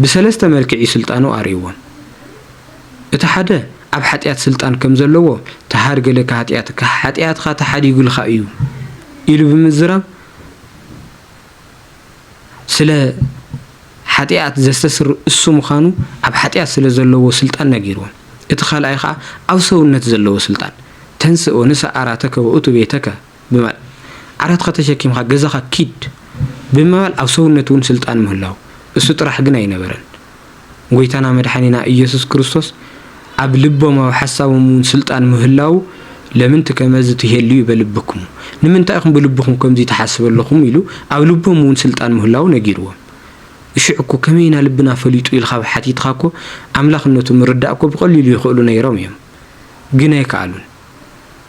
ብሰለስተ መልክዕ'ዩ ስልጣኑ ኣርእይዎም። እቲ ሓደ ኣብ ሓጥያት ስልጣን ከም ዘለዎ ተሃድገለካ ሃጥያትካ፣ ሓጥያትካ ተሓዲጉልካ'ዩ ኢሉ ብምዝራብ ስለ ሓጥያት ዘስተስርር እሱ ምዃኑ ኣብ ሓጥያት ስለ ዘለዎ ስልጣን ነጊርዎም። እቲ ካልኣይ ከኣ ኣብ ሰውነት ዘለዎ ስልጣን። ተንሥእ ወንሣእ ኣራተከ ወእቱ ቤተከ። ብምባል ዓራትኻ ተሸኪምካ ገዛኻ ኪድ ብምባል ኣብ ሰውነት እውን ስልጣን ምህላው እሱ ጥራሕ ግን ኣይነበረን ጎይታና መድሓኒና እየሱስ ክርስቶስ ኣብ ልቦም ኣብ ሓሳቦም እውን ስልጣን ምህላው ለምንት ከመዝ ትሄልዩ በልብክሙ ንምንታይ ኢኹም ብልብኹም ከምዙይ ትሓስብ ኣለኹም ኢሉ ኣብ ልቦም እውን ስልጣን ምህላው ነጊርዎም እሽዕ እኮ ከመይ ኢና ልብና ፈሊጡ ኢልካ ብሓቲትኻ እኮ ኣምላኽነቱ ምርዳእ እኮ ብቐሊሉ ይኽእሉ ነይሮም እዮም ግን ኣይከኣሉን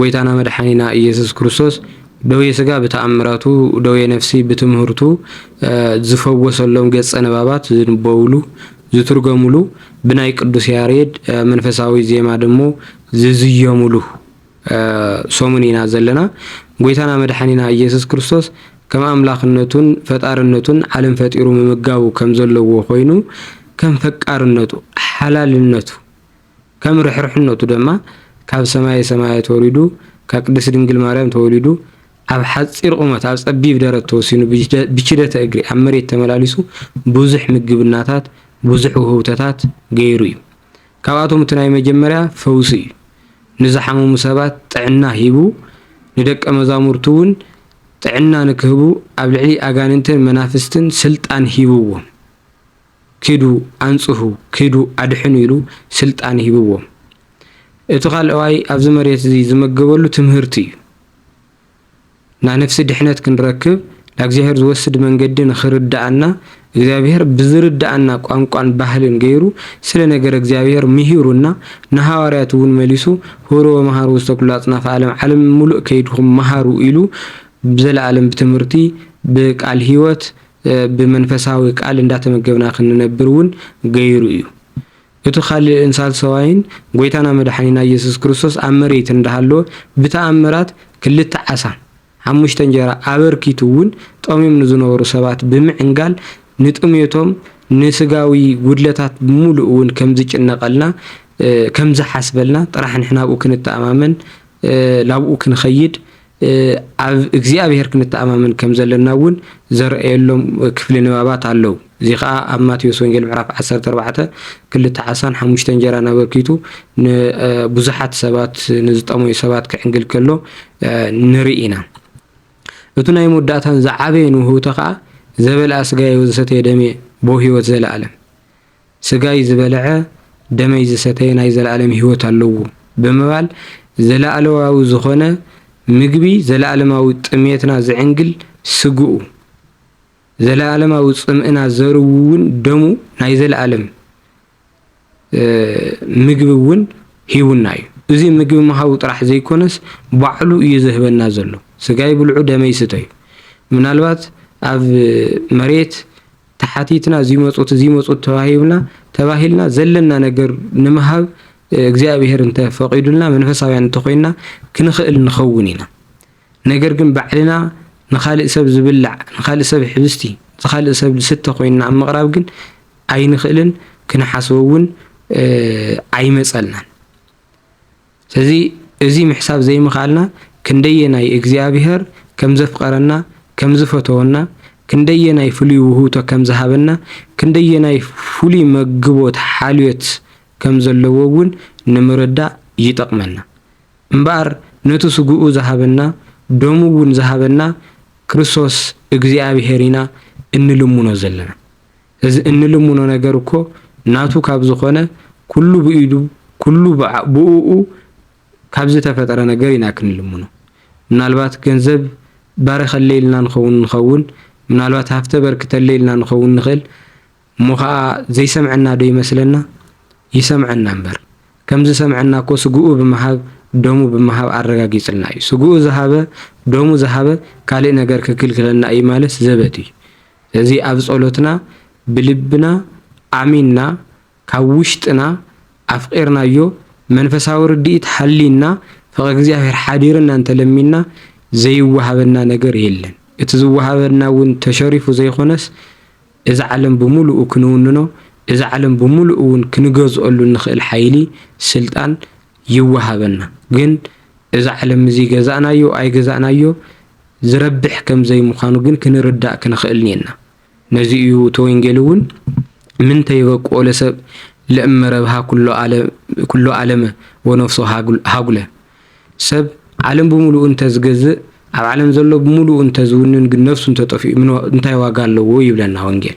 ጎይታና መድሓኒና እየሱስ ክርስቶስ ደዌ ስጋ ብተኣምራቱ ደዌ ነፍሲ ብትምህርቱ ዝፈወሰሎም ገጸ ንባባት ዝንበብሉ ዝትርገምሉ ብናይ ቅዱስ ያሬድ መንፈሳዊ ዜማ ደሞ ዝዝየምሉ ሰሙን ኢና ዘለና። ጎይታና መድሓኒና እየሱስ ክርስቶስ ከም ኣምላኽነቱን ፈጣርነቱን ዓለም ፈጢሩ ምምጋቡ ከም ዘለዎ ኮይኑ ከም ፈቃርነቱ ሓላልነቱ ከም ርሕርሕነቱ ደማ ካብ ሰማየ ሰማያት ወሪዱ ካብ ቅድስት ድንግል ማርያም ተወሊዱ ኣብ ሓጺር ቁመት ኣብ ጸቢብ ደረት ተወሲኑ ብችደተ እግሪ ኣብ መሬት ተመላሊሱ ብዙሕ ምግብናታት ብዙሕ ውህብቶታት ገይሩ እዩ። ካብኣቶም እቲ ናይ መጀመርያ ፈውሲ እዩ። ንዝሓመሙ ሰባት ጥዕና ሂቡ ንደቀ መዛሙርቱ እውን ጥዕና ንክህቡ ኣብ ልዕሊ ኣጋንንትን መናፍስትን ስልጣን ሂብዎም። ኪዱ ኣንጽሁ ኪዱ ኣድሕኑ ኢሉ ስልጣን ሂብዎም። እቲ ካልኣዋይ ኣብዚ መሬት እዚ ዝመገበሉ ትምህርቲ እዩ። ናነፍሲ ድሕነት ክንረክብ ላእግዚኣብሔር ዝወስድ መንገዲ ንክርድኣና እግዚኣብሔር ብዝርድኣና ቋንቋን ባህልን ገይሩ ስለ ነገረ እግዚኣብሔር ምሂሩና ንሃዋርያቱ እውን መሊሱ ሁሩ ወመሃሩ ውስተ ኩሉ ኣጽናፈ ኣለም ዓለም ምሉእ ከይድኩም መሃሩ ኢሉ ብዘለኣለም ብትምህርቲ ብቃል ህይወት ብመንፈሳዊ ቃል እንዳተመገብና ክንነብር እውን ገይሩ እዩ። እቱ ካልእን ሳልሰዋይን ጎይታና መድሓኒና እየሱስ ክርስቶስ ኣብ መሬት እንዳሃለወ ብተኣምራት ክልተ ዓሳ ሓሙሽተ እንጀራ ኣበርኪቱ እውን ጠምዮም ንዝነበሩ ሰባት ብምዕንጋል ንጥምየቶም ንስጋዊ ጉድለታት ብሙሉእ እውን ከምዝጭነቀልና ከምዝሓስበልና ጥራሕ ንሕና ኣብኡ ክንተኣማመን ላብኡ ክንኸይድ ኣብ እግዚኣብሔር ክንተኣማመን ከም ዘለና እውን ዘርእየሎም ክፍሊ ንባባት ኣለዉ። እዚ ኸኣ ኣብ ማቴዎስ ወንጌል ምዕራፍ ዓሰርተ ኣርባዕተ ክልተ ዓሳን ሓሙሽተ እንጀራን ኣበርኪቱ ንብዙሓት ሰባት ንዝጠመዩ ሰባት ክዕንግል ከሎ ንርኢ ኢና። እቱ ናይ መወዳእታን ዝዓበየን ውህብቶ ኸኣ ዘበልኣ ስጋየ ወዘሰተየ ደምየ ቦ ሕይወት ዘለዓለም ስጋይ ዝበልዐ ደመይ ዝሰተየ ናይ ዘለኣለም ህይወት ኣለዎ ብምባል ዘለኣለዋዊ ዝኾነ ምግቢ ዘለኣለማዊ ጥምየትና ዝዕንግል ስግኡ፣ ዘለኣለማዊ ጽምእና ዘርዊ እውን ደሙ ናይ ዘለኣለም ምግቢ እውን ሂቡና እዩ። እዚ ምግቢ ምሃቡ ጥራሕ ዘይኮነስ ባዕሉ እዩ ዝህበና ዘሎ። ስጋይ ብልዑ ደመይ ስተዩ። ምናልባት ኣብ መሬት ተሓቲትና ዚመጹት ዚመጹት ተዋሂብና ተባሂልና ዘለና ነገር ንምሃብ እግዚኣብሔር እንተ ፈቂዱልና መንፈሳውያን እንተኾይንና ክንኽእል ንኸውን ኢና ነገር ግን ባዕልና ንኻልእ ሰብ ዝብላዕ ንኻልእ ሰብ ሕብስቲ ንኻልእ ሰብ ዝስተ ኮይንና ኣብ ምቕራብ ግን ኣይንኽእልን ክንሓስቦ እውን ኣይመጸልናን ስለዚ እዚ ምሕሳብ ዘይምኽኣልና ክንደየናይ እግዚኣብሔር ከም ዘፍቐረና፣ ከም ዝፈተወና፣ ክንደየናይ ፍሉይ ውህብቶ ከም ዝሃበና፣ ክንደየናይ ፍሉይ መግቦት ሓልዮት ከም ዘለዎ እውን ንምርዳእ ይጠቕመና። እምበኣር ነቲ ስግኡ ዝሃበና፣ ደሙ እውን ዝሃበና ክርስቶስ እግዚኣብሔር ኢና እንልምኖ ዘለና። እዚ እንልምኖ ነገር እኮ ናቱ ካብ ዝኾነ ኩሉ ብኢዱ ኩሉ ብኡኡ ካብ ዝተፈጠረ ነገር ኢና ክንልምኖ። ምናልባት ገንዘብ ባርኸለይ ኢልና ንኸውን ንኸውን፣ ምናልባት ሃፍቲ ኣበርክተለይ ኢልና ንኸውን ንኽእል፣ እሞ ኸኣ ዘይሰምዐና ዶ ይመስለና? ይሰምዐና እምበር። ከም ዝሰምዐና እኮ ስግኡ ብምሃብ ደሙ ብምሃብ ኣረጋጊጽልና እዩ። ስግኡ ዝሃበ ደሙ ዝሃበ ካልእ ነገር ክክልክለና እዩ ማለት ዘበት እዩ። ስለዚ ኣብ ጸሎትና ብልብና ኣሚንና ካብ ውሽጥና ኣፍቒርናዮ መንፈሳዊ ርድኢት ሓልዩና ፍቕሪ እግዚኣብሔር ሓዲርና እንተ ለሚንና ዘይወሃበና ነገር የለን እቲ ዝወሃበና እውን ተሸሪፉ ዘይኮነስ እዛ ዓለም ብምሉኡ ክንውንኖ እዛ ዓለም ብምሉኡ እውን ክንገዝኦሉ እንኽእል ሓይሊ ስልጣን ይወሃበና ግን እዚ ዓለም እዚ ገዛእናዮ ኣይገዛእናዮ ዝረብሕ ከም ዘይምዃኑ ግን ክንርዳእ ክንኽእል እኔና። ነዚ እዩ እቲ ወንጌል እውን ምንተ ይበቅኦ ለሰብእ ለእመ ረብሃ ኩሎ ዓለመ ወነፍሶ ሃጉለ ሰብ ዓለም ብምሉኡ እንተ ዝገዝእ ኣብ ዓለም ዘሎ ብምሉኡ እንተ ዝውንን ግን ነፍሱ እንተ ጠፊኡ እንታይ ዋጋ ኣለዎ ይብለና ወንጌል።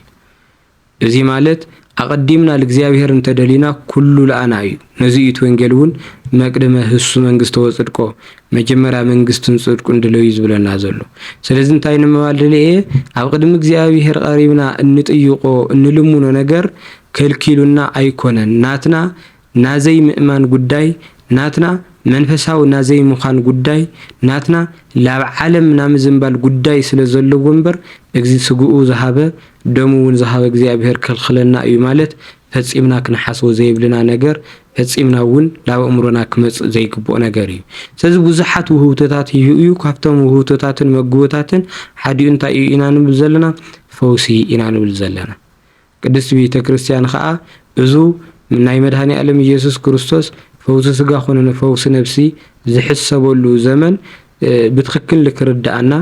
እዚ ማለት ኣቐዲምና ልእግዚኣብሔር እንተ ደሊና ኩሉ ለኣና እዩ። ነዚ እዩ እቲ ወንጌል እውን መቅድመ ህሱ መንግሥተ ወጽድቆ መጀመርያ መንግሥትን ጽድቁን ድለዩ ዝብለና ዘሎ። ስለዚ እንታይ ንምባል ደሊየ ኣብ ቕድሚ እግዚኣብሔር ቐሪብና እንጥይቆ እንልምኖ ነገር ከልኪሉና ኣይኮነን ናትና ናዘይምእማን ጉዳይ ናትና፣ መንፈሳዊ ናዘይምዃን ጉዳይ ናትና፣ ላብ ዓለም ናምዝንባል ጉዳይ ስለ ዘለዎ እምበር እግዚ ስግኡ ዝሃበ ደሙ እውን ዝሃበ እግዚኣብሔር ክኽልክለና እዩ ማለት ፈጺምና ክንሓስቦ ዘይብልና ነገር ፈጺምና እውን ላብእምሮና ክመጽእ ዘይግብኦ ነገር እዩ ስለዚ ብዙሓት ውህብቶታት ሂሁ እዩ ካብቶም ውህብቶታትን መግቦታትን ሓዲኡ እንታይ እዩ ኢና ንብል ዘለና ፈውሲ ኢና ንብል ዘለና ቅድስት ቤተ ክርስቲያን ከኣ እዙ ናይ መድኃኔ ዓለም ኢየሱስ ክርስቶስ ፈውሲ ሥጋ ኮነ ፈውሲ ነፍሲ ዝሕሰበሉ ዘመን ብትኽክል ንክርድኣና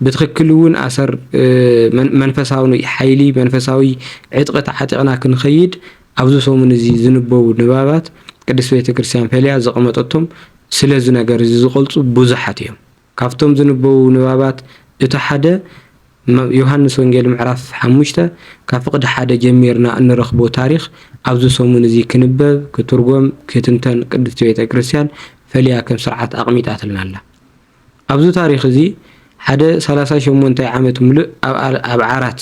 ብትኽክል እውን ኣሰር መንፈሳዊ ኃይሊ መንፈሳዊ ዕጥቂ ተዓጢቕና ክንኸይድ ኣብዚ ሰሙን እዚ ዝንበቡ ንባባት ቅድስት ቤተ ክርስቲያን ፈልያ ዘቐመጠቶም ስለዚ ነገር እዚ ዝቐልጹ ብዙኃት እዮም። ካብቶም ዝንበቡ ንባባት እቲ ሓደ ም ዮሃንስ ወንጌል ምዕራፍ ሓሙሽተ ካብ ፍቕዲ ሓደ ጀሚርና እንረኽቦ ታሪኽ ኣብዚ ሰሙን እዚ ክንበብ፣ ክትርጎም፣ ክትንተን ቅድስቲ ቤተ ክርስቲያን ፈልያ ከም ስርዓት ኣቕሚጣትልና ኣላ። ኣብዚ ታሪኽ እዚ ሓደ ሰላሳ ሸሞንታይ ዓመት ምሉእ ኣብ ዓራት፣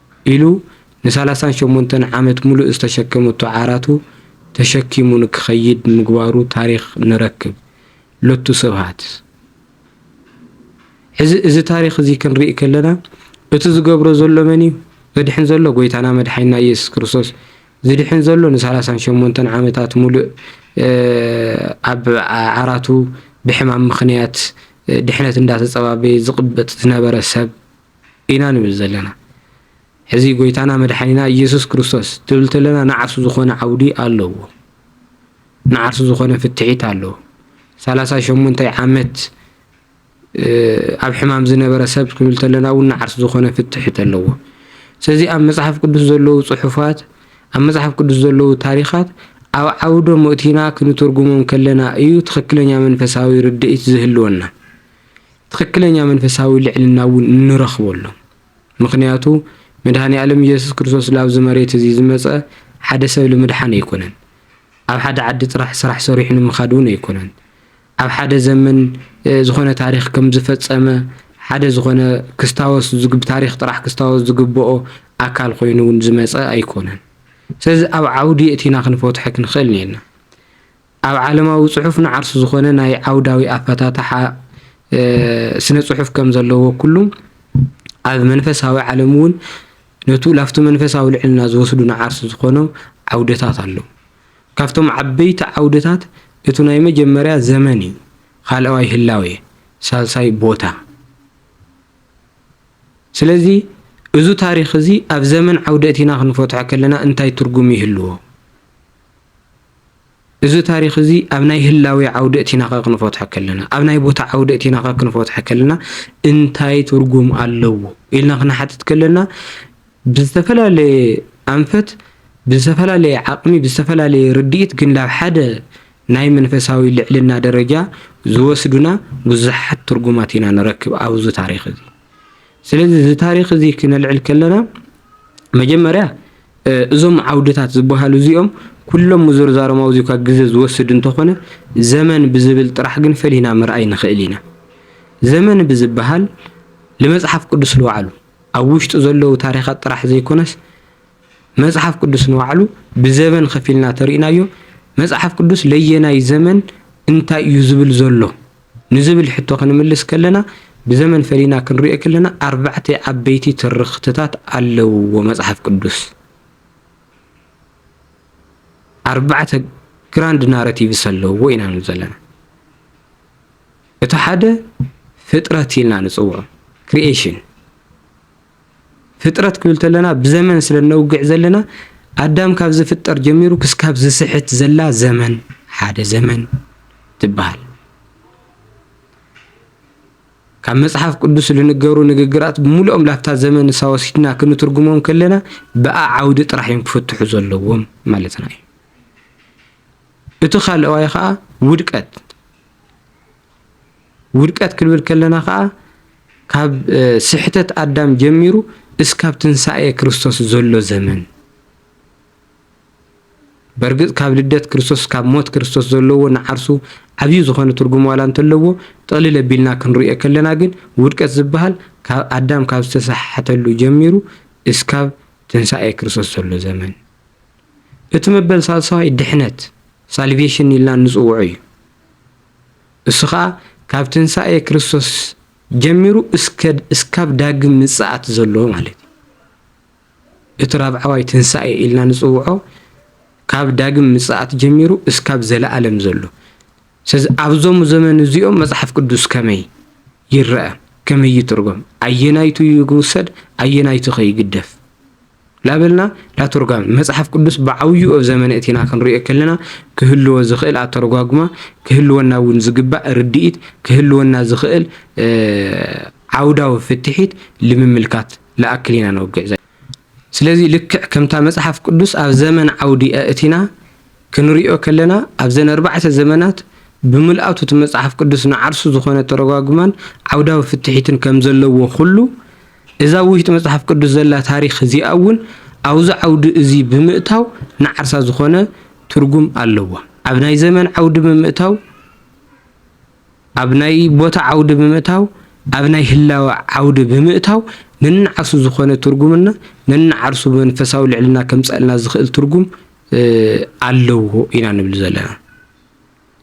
ኢሉ ንሳላሳን ሸሞንተን ዓመት ሙሉእ ዝተሸከመቶ ዓራቱ ተሸኪሙ ንክኸይድ ምግባሩ ታሪኽ ንረክብ። ሎቱ ስብሃት። ሕዚ እዚ ታሪኽ እዚ ክንርኢ ከለና እቲ ዝገብሮ ዘሎ መን እዩ? ዘድሕን ዘሎ ጎይታና መድሓኒና ኢየሱስ ክርስቶስ ዝድሕን ዘሎ ንሳላሳን ሸሞንተን ዓመታት ሙሉእ ኣብ ዓራቱ ብሕማም ምኽንያት ድሕነት እንዳተፀባበየ ዝቕበፅ ዝነበረ ሰብ ኢና ንብል ዘለና። ሕዚ ጎይታና መድሓኒና ኢየሱስ ክርስቶስ ትብል ተለና ንዓርሱ ዝኾነ ዓውዲ ኣለዎ። ንዓርሱ ዝኾነ ፍትሒት ኣለዎ። ሰላሳ ሸሞንታይ ዓመት ኣብ ሕማም ዝነበረ ሰብ ክብል ተለና እውን ንዓርሱ ዝኾነ ፍትሒት ኣለዎ። ስለዚ ኣብ መጽሓፍ ቅዱስ ዘለዉ ጽሑፋት ኣብ መጽሓፍ ቅዱስ ዘለዉ ታሪኻት ኣብ ዓውዶ ምእቲና ክንትርጉሞም ከለና እዩ ትኽክለኛ መንፈሳዊ ርድኢት ዝህልወና። ትኽክለኛ መንፈሳዊ ልዕልና እውን እንረኽበሎም። ምኽንያቱ መድኃኔዓለም ኢየሱስ ክርስቶስ ላብዚ መሬት እዚ ዝመጸ ሓደ ሰብ ልምድሓን ኣይኮነን። ኣብ ሓደ ዓዲ ጥራሕ ስራሕ ሰሪሑ ንምኻድ እውን ኣይኮነን። ኣብ ሓደ ዘመን ዝኾነ ታሪኽ ከም ዝፈጸመ ሓደ ዝኾነ ክስታወስ ዝግ ብታሪኽ ጥራሕ ክስታወስ ዝግብኦ ኣካል ኮይኑ እውን ዝመጸ ኣይኮነን። ስለዚ ኣብ ዓውዲ የእቲና ክንፈትሖ ክንኽእል እኔና። ኣብ ዓለማዊ ጽሑፍ ንዓርሱ ዝኾነ ናይ ዓውዳዊ ኣፈታትሓ ስነ ጽሑፍ ከም ዘለዎ ኩሉ፣ ኣብ መንፈሳዊ ዓለም እውን ነቱ ላፍቱ መንፈሳዊ ልዕልና ዝወስዱ ንዓርሱ ዝኾኖ ዓውደታት ኣለዉ። ካብቶም ዓበይቲ ዓውደታት እቱ ናይ መጀመርያ ዘመን እዩ፣ ኻልኣዋይ ህላዌ፣ ሳልሳይ ቦታ። ስለዚ እዙ ታሪኽ እዙይ ኣብ ዘመን ዓውደ እቲና ክንፈትሖ ከለና እንታይ ትርጉም ይህልዎ? እዚ ታሪኽ እዚ ኣብ ናይ ህላዌ ዓውዲ እቲና ከክንፈትሖ ከለና ኣብ ናይ ቦታ ዓውዲ እቲና ከክንፈትሖ ከለና እንታይ ትርጉም ኣለዎ ኢልና ክንሓትት ከለና ብዝተፈላለየ ኣንፈት ብዝተፈላለየ ዓቕሚ ብዝተፈላለየ ርድኢት ግን ናብ ሓደ ናይ መንፈሳዊ ልዕልና ደረጃ ዝወስዱና ብዙሓት ትርጉማት ኢና ንረክብ ኣብዚ ታሪኽ እዚ። ስለዚ እዚ ታሪኽ እዚ ክነልዕል ከለና መጀመርያ እዞም ዓውድታት ዝበሃሉ እዚኦም ኩሎም ምዝርዛሮም ኣብዚ እኳ ግዘ ዝወስድ እንተኾነ ዘመን ብዝብል ጥራሕ ግን ፈሊና ምርኣይ ንኽእል ኢና። ዘመን ብዝበሃል ንመጽሓፍ ቅዱስ ንባዕሉ ኣብ ውሽጡ ዘለዉ ታሪኻት ጥራሕ ዘይኮነስ መጽሓፍ ቅዱስ ንባዕሉ ብዘበን ከፊልና ተርእናዮ መጽሓፍ ቅዱስ ለየናይ ዘመን እንታይ እዩ ዝብል ዘሎ ንዝብል ሕቶ ክንምልስ ከለና ብዘመን ፈሊና ክንሪኦ ከለና ኣርባዕተ ዓበይቲ ትርኽትታት ኣለውዎ መጽሓፍ ቅዱስ። ኣርባዕተ ግራንድ ናረቲቭስ ኣለውዎ ኢና ንብል ዘለና። እቲ ሓደ ፍጥረት ኢልና ንጽውዖ ክሪኤሽን ፍጥረት ክንብል ተለና ብዘመን ስለ እነውግዕ ዘለና ኣዳም ካብ ዝፍጠር ጀሚሩ ክስካብ ዝስሕት ዘላ ዘመን ሓደ ዘመን ትበሃል። ካብ መጽሓፍ ቅዱስ ዝንገሩ ንግግራት ብምሉኦም ላብታ ዘመን ንሳ ወሲድና ክንትርጉሞም ከለና ብኣ ዓውዲ ጥራሕ እዮም ክፍትሑ ዘለዎም ማለትና እዩ እቲ ካልእዋይ ከዓ ውድቀት ውድቀት ክንብል ከለና ከኣ ካብ ስሕተት ኣዳም ጀሚሩ እስካብ ትንሳኤ ክርስቶስ ዘሎ ዘመን በርግጽ ካብ ልደት ክርስቶስ ካብ ሞት ክርስቶስ ዘለዎ ንዓርሱ ዓብዩ ዝኾነ ትርጉም ዋላ እንተለዎ ጥቕልል ኣቢልና ክንሪኦ ከለና ግን ውድቀት ዝበሃል ካብ ኣዳም ካብ ዝተሰሓሓተሉ ጀሚሩ እስካብ ትንሳኤ ክርስቶስ ዘሎ ዘመን እቲ መበል ሳልሳዋይ ድሕነት ሳልቬሽን ኢልና እንፅውዖ እዩ። እሱ ኸኣ ካብ ትንሳኤ ክርስቶስ ጀሚሩ እስካብ ዳግም ምጽኣት ዘሎ ማለት እዩ። እቲ ራብዓዋይ ትንሳኤ ኢልና ንጽውዖ ካብ ዳግም ምጽኣት ጀሚሩ እስካብ ዘለኣለም ዘሎ። ስለዚ ኣብዞም ዘመን እዚኦም መጽሓፍ ቅዱስ ከመይ ይረኣ፣ ከመይ ይትርጎም፣ ኣየናይቱ ይውሰድ፣ ኣየናይቱ ከ ይግደፍ? ላበልና ላተርጓሚ መጽሓፍ ቅዱስ ብዓብዩ እብ ዘመነ እቲና ክንርእዮ ከለና ክህልዎ ዝኽእል ኣተረጓጉማ ክህልወና እውን ዝግባእ ርድኢት ክህልወና ዝኽእል ዓውዳዊ ፍትሒት ልምምልካት ልኣክል ኢና ነውግዕ ዘ ስለዚ ልክዕ ከምታ መጽሓፍ ቅዱስ ኣብ ዘመን ዓውዲ ኣእቲና ክንሪኦ ከለና ኣብዘን ኣርባዕተ ዘመናት ብምልኣቱ እቲ መጽሓፍ ቅዱስ ንዓርሱ ዝኾነ ተረጓጉማን ዓውዳዊ ፍትሒትን ከም ዘለዎ ኩሉ እዛ ኣብ ውሽጢ መጽሓፍ ቅዱስ ዘላ ታሪኽ እዚኣ እውን ኣብዚ ዓውዲ እዚ ብምእታው ንዓርሳ ዝኾነ ትርጉም ኣለዋ። ኣብ ናይ ዘመን ዓውዲ ብምእታው፣ ኣብ ናይ ቦታ ዓውዲ ብምእታው፣ ኣብ ናይ ህላወ ዓውዲ ብምእታው ነንዓርሱ ዝኾነ ትርጉምና ነንዓርሱ መንፈሳዊ ልዕልና ከምጸእልና ዝኽእል ትርጉም ኣለዎ ኢና ንብል ዘለና።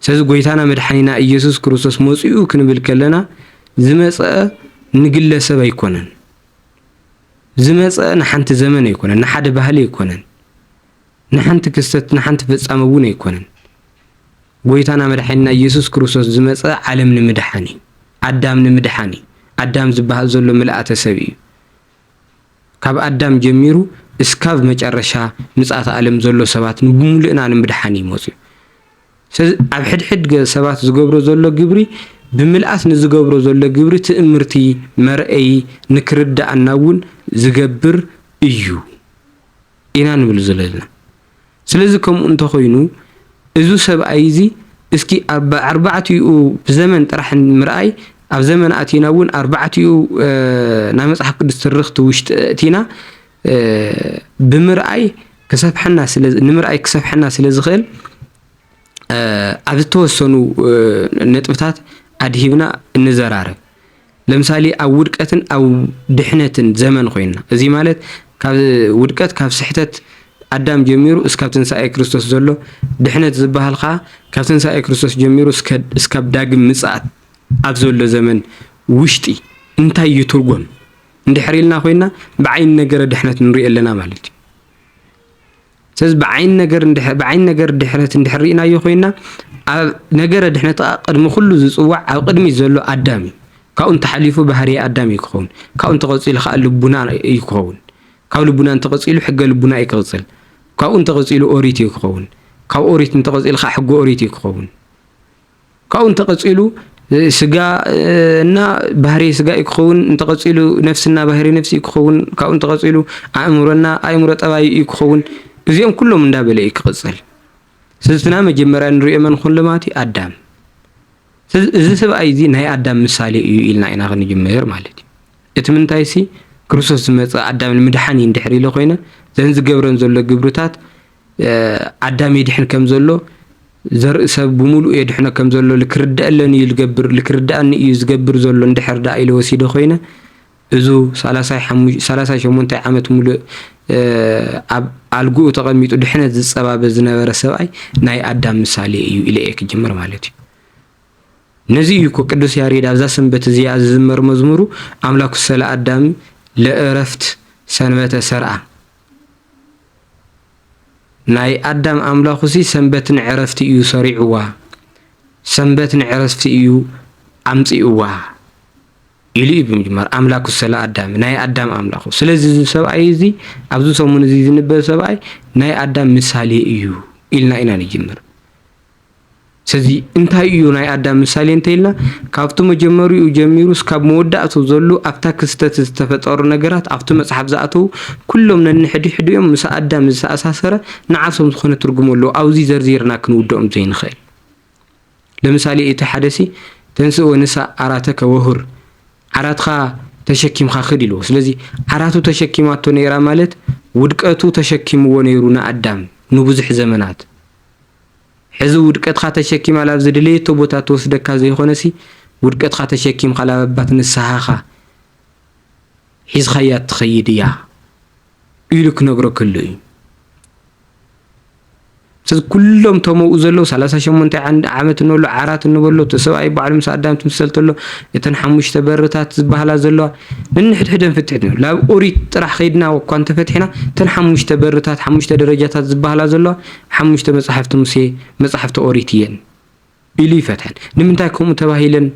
ስለዚ ጎይታና መድሓኒና ኢየሱስ ክርስቶስ መጺኡ ክንብል ከለና ዝመጸ ንግለሰብ ኣይኮነን። ዝመጸ ንሓንቲ ዘመን ኣይኮነን፣ ንሓደ ባህሊ ኣይኮነን፣ ንሓንቲ ክስተት ንሓንቲ ፍጻመ እውን ኣይኮነን። ጎይታና መድሓኒና ኢየሱስ ክርስቶስ ዝመጸ ዓለም ንምድሓን እዩ። ኣዳም ንምድሓን እዩ። ኣዳም ዝበሃል ዘሎ ምልኣተ ሰብ እዩ። ካብ ኣዳም ጀሚሩ እስካብ መጨረሻ ምጽኣተ ኣለም ዘሎ ሰባት ንብሙሉእና ንምድሓን እዩ መጽዩ ስለዚ ኣብ ሕድሕድ ሰባት ዝገብሮ ዘሎ ግብሪ ብምልኣት ንዝገብሮ ዘሎ ግብሪ ትእምርቲ መርኣዪ ንክርድኣና እውን ዝገብር እዩ ኢና ንብል ዘለና ስለዚ ከምኡ እንተ ኾይኑ እዙ ሰብኣይ እዚ እስኪ ኣብ ኣርባዕቲኡ ዘመን ጥራሕ ምርኣይ ኣብ ዘመን ኣቲና እውን ኣርባዕቲኡ ናይ መጽሓፍ ቅዱስ ትርኽቲ ውሽጢ እቲና ብምርኣይ ክሰፍሐና ስለ ንምርኣይ ክሰፍሐና ስለ ዝኽእል ኣብ ዝተወሰኑ ነጥብታት ኣድሂብና እንዘራረብ። ለምሳሌ ኣብ ውድቀትን ኣብ ድሕነትን ዘመን ኮይንና እዚ ማለት ካብ ውድቀት ካብ ስሕተት ኣዳም ጀሚሩ እስካብ ትንሳኤ ክርስቶስ ዘሎ ድሕነት ዝበሃል ከዓ ካብ ትንሳኤ ክርስቶስ ጀሚሩ እስካብ ዳግም ምጽኣት ኣብ ዘሎ ዘመን ውሽጢ እንታይ እዩ ትርጎም እንድሕር ኢልና ኮይና ብዓይኒ ነገረ ድሕነት ንሪኦ ኣለና ማለት እዩ። ስለዚ ብዓይኒ ነገር እንድሕ ብዓይኒ ነገር ድሕነት እንድሕር ርኢናዮ ኮይንና ኣብ ነገረ ድሕነት ከኣ ቅድሚ ኩሉ ዝጽዋዕ ኣብ ቅድሚት ዘሎ ኣዳም እዩ። ካብኡ እንተሓሊፉ ባህርየ ኣዳም እዩ ክኸውን። ካብኡ እንተቐጺሉ ከኣ ልቡና እዩ ክኸውን። ካብ ልቡና እንተቐጺሉ ሕገ ልቡና እዩ ክቕጽል። ካብኡ እንተቐጺሉ ኦሪት እዩ ክኸውን። ካብ ኦሪት እንተቐጺሉ ከኣ ሕገ ኦሪት እዩ ክኸውን። ካብኡ እንተቐጺሉ ስጋ እና ባህሪ ስጋ እዩ ክኸውን፣ እንተቐጺሉ ነፍስና ባህሪ ነፍሲ እዩ ክኸውን፣ ካብኡ እንተቐጺሉ ኣእምሮና ኣእምሮ ጠባይ እዩ ክኸውን። እዚኦም ኩሎም እንዳበለ እዩ ክቕጽል። ስዝትና መጀመርያ ንሪኦ መን ኹን ልማት እዩ ኣዳም እዚ ሰብኣይ እዚ ናይ ኣዳም ምሳሌ እዩ ኢልና ኢና ክንጅምር ማለት እዩ እቲ ምንታይ ሲ ክርስቶስ ዝመፀ ኣዳም ንምድሓን እዩ እንድሕር ኢለ ኮይነ ዘን ዝገብረን ዘሎ ግብርታት ኣዳም የድሕን ከም ዘሎ ዘርኢ ሰብ ብምሉኡ የድሕኖ ከም ዘሎ ልክርደአለን እዩ ዝገብር ልክርደኣኒ እዩ ዝገብር ዘሎ እንድሕር ደኣ ኢለ ወሲደ ኮይነ እዙ ሰላሳይ ሸሞንታይ ዓመት ሙሉእ ኣብ ኣልግኡ ተቐሚጡ ድሕነት ዝፀባበ ዝነበረ ሰብኣይ ናይ ኣዳም ምሳሌ እዩ ኢለ እየ ክጅምር ማለት እዩ ነዚ እዩ እኮ ቅዱስ ያሬድ ኣብዛ ሰንበት እዚኣ ዝዝመር መዝሙሩ ኣምላኩ ሰለ ኣዳም ለእረፍት ሰንበተ ሰርኣ ናይ ኣዳም ኣምላኹሲ ሰንበት ንዕረፍቲ እዩ ሰሪዑዋ፣ ሰንበት ንዕረፍቲ እዩ ኣምጺኡዋ ኢሉ እዩ ብምጅማር ኣምላኩ ሰላ ኣዳም ናይ ኣዳም ኣምላኹ። ስለዚ እዚ ሰብኣይ እዚ ኣብዚ ሰሙን እዚ ዝንበብ ሰብኣይ ናይ ኣዳም ምሳሌ እዩ ኢልና ኢና ንጅምር። ሰዚ እንታይ እዩ ናይ ኣዳም ምሳሌ እንተይልና ካብቱ መጀመሪኡ ጀሚሩ እስካብ መወዳእቱ ዘሉ ኣብታ ክስተት ዝተፈጠሩ ነገራት ኣብቱ መፅሓፍ ዝኣተዉ ኩሎም ነንሕዲሕዲኦም ምሰ ኣዳም ዝተኣሳሰረ ንዓሶም ዝኮነ ትርጉም ኣለዎ ኣውዚ ዘርዚርና ክንውደኦም ዘይንክእል ለምሳሌ እቲ ሓደሲ ተንስእ ወንሳ ዓራተከ ወሁር ዓራትካ ተሸኪምካ ክድ ኢልዎ ስለዚ ዓራቱ ተሸኪማቶ ነይራ ማለት ውድቀቱ ተሸኪምዎ ነይሩ ንኣዳም ንቡዙሕ ዘመናት ሕዚ ውድቀትካ ተሸኪማ ላብ ዝደለየቶ ቦታ ትወስደካ ዘይኾነሲ ውድቀትካ ተሸኪምካ ላብ ኣባት ንስሃኻ ሒዝኻያ ትኸይድ እያ ኢሉ ክነግሮ ከሎ እዩ። ስለዚ ኩሎም ተመኡ ዘለዉ ሰላሳ ሸሞንተ ዓመት እንበሎ ዓራት እንበሎ እቲ ሰብኣይ ባዕሉ ምስ ኣዳም ትምሰል ተሎ እተን ሓሙሽተ በርታት ዝበሃላ ዘለዋ ነንሕድሕደን ፍትሕት እዩ ላብ ኦሪት ጥራሕ ከይድና እኳ እንተፈትሕና እተን ሓሙሽተ በርታት ሓሙሽተ ደረጃታት ዝበሃላ ዘለዋ ሓሙሽተ መጻሕፍቲ ሙሴ መጻሕፍቲ ኦሪት እየን ኢሉ ይፈትሐን። ንምንታይ ከምኡ ተባሂለን?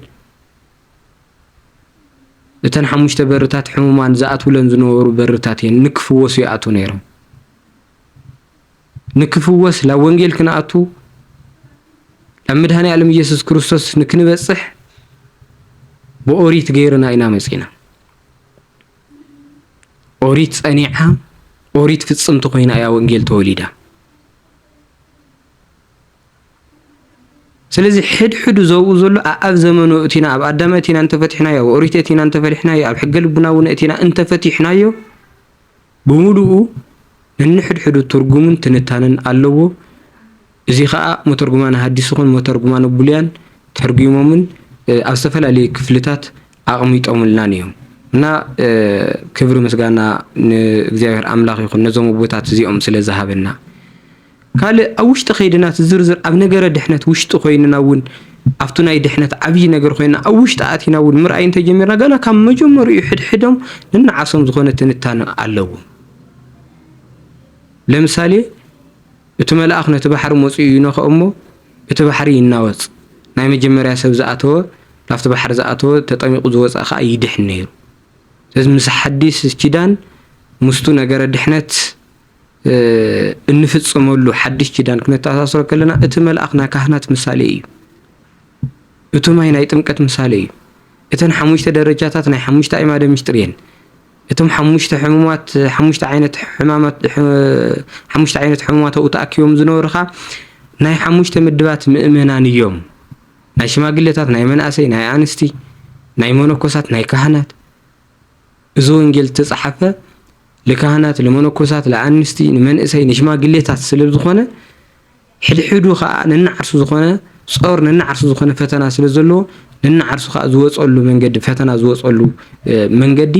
እተን ሓሙሽተ በርታት ሕሙማን ዝኣትውለን ዝነበሩ በርታት እየን። ንክፍወሱ ይኣትው ነይሮም። ንክፍወስ ላብ ወንጌል ክንኣቱ ላብ መድሃኒ ኣለም እየሱስ ክርስቶስ ንክንበጽሕ ብኦሪት ገይርና ኢና መጺና። ኦሪት ጸኒዓ ኦሪት ፍጽምቲ ኮይና እያ ወንጌል ተወሊዳ። ስለዚ ሕድሕዱ ዘብኡ ዘሎ ኣብ ዘመኑ እቲና ኣብ ኣዳመ እቲና እንተፈቲሕናዮ ኣብ ኦሪት እቲና እንተፈሊሕናዮ ኣብ ሕገ ልቡና እውን እቲና እንተፈቲሕናዮ ብምሉኡ ንንሕድሕዱ ትርጉምን ትንታንን ኣለዎ። እዚ ኸኣ መተርጉማነ ሃዲስ ይኹን መተርጉማነ ብሉያን ተርጉሞምን ኣብ ዝተፈላለዩ ክፍልታት ኣቕሚጦምልናን እዮም። እና ክብሪ ምስጋና ንእግዚኣብሔር ኣምላኽ ይኹን ነዞም ኣቦታት እዚኦም ስለ ዝሃበና። ካልእ ኣብ ውሽጢ ከይድና እቲ ዝርዝር ኣብ ነገረ ድሕነት ውሽጢ ኮይንና እውን ኣብቱ ናይ ድሕነት ዓብዪ ነገር ኮይና ኣብ ውሽጢ ኣቲና እውን ምርኣይ እንተጀሚርና ገና ካብ መጀመሪኡ ሕድሕዶም ንናዓሶም ዝኾነ ትንታነ ኣለዎም። ለምሳሌ እቲ መልኣኽ ነቲ ባሕሪ መጺኡ ይነኽኦ እሞ እቲ ባሕሪ ይናወጽ፣ ናይ መጀመርያ ሰብ ዝኣተወ ናብቲ ባሕሪ ዝኣተወ ተጠሚቁ ዝወጽኣ ከኣ ይድሕን ነይሩ። ስለዚ ምስ ሓዲስ ኪዳን ምስቱ ነገረ ድሕነት እንፍጽመሉ ሓዲሽ ኪዳን ክነተኣሳስሮ ከለና እቲ መልኣኽ ናይ ካህናት ምሳሌ እዩ። እቲ ማይ ናይ ጥምቀት ምሳሌ እዩ። እተን ሓሙሽተ ደረጃታት ናይ ሓሙሽተ ኣዕማደ ምሥጢር እየን። እቶም ሓሙሽተ ሕሙማት ሓሙሽተ ዓይነት ሕማማት ሓሙሽተ ዓይነት ሕሙማት ኣብኡ ተኣኪቦም ዝነበሩ ኸኣ ናይ ሓሙሽተ ምድባት ምእመናን እዮም። ናይ ሽማግሌታት፣ ናይ መናእሰይ፣ ናይ ኣንስቲ፣ ናይ መነኮሳት፣ ናይ ካህናት እዚ ወንጌል ዝተጻሓፈ ልካህናት፣ ልመነኮሳት፣ ልኣንስቲ፣ ንመንእሰይ፣ ንሽማግሌታት ስለ ዝኾነ ሕድሕዱ ከኣ ነንዓርሱ ዝኾነ ጾር ነንዓርሱ ዝኾነ ፈተና ስለ ዘለዎ ነንዓርሱ ከኣ ዝወጸሉ መንገዲ ፈተና ዝወጸሉ መንገዲ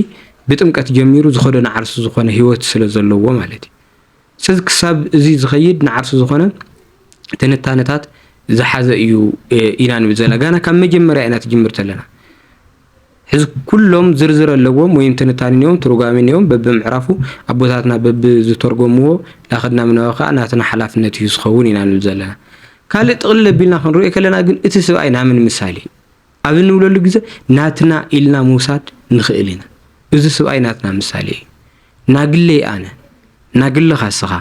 ብጥምቀት ጀሚሩ ዝኸዶ ንዓርሱ ዝኾነ ህይወት ስለ ዘለዎ ማለት እዩ። ስለዚ ክሳብ እዚ ዝኸይድ ንዓርሱ ዝኾነ ትንታነታት ዝሓዘ እዩ ኢና ንብል ዘለና። ጋና ካብ መጀመርያ ኢና ትጅምር ዘለና። ሕዚ ኩሎም ዝርዝር ኣለዎም ወይም ትንታኒ እዮም ትርጓሜ እዮም በብምዕራፉ ኣቦታትና በብዝተርጎምዎ ላክድና ምንባብ ከዓ ናትና ሓላፍነት እዩ ዝኸውን ኢና ንብል ዘለና ካልእ ጥቕልል ኣቢልና ክንሪኦ ከለና ግን እቲ ስብኣይ ናምን ምሳሌ ኣብ እንብለሉ ግዘ ናትና ኢልና ምውሳድ ንኽእል ኢና እዚ ስብኣይ ናትና ምሳሌ እዩ ናግለይ ኣነ ናግልኻ ስኻ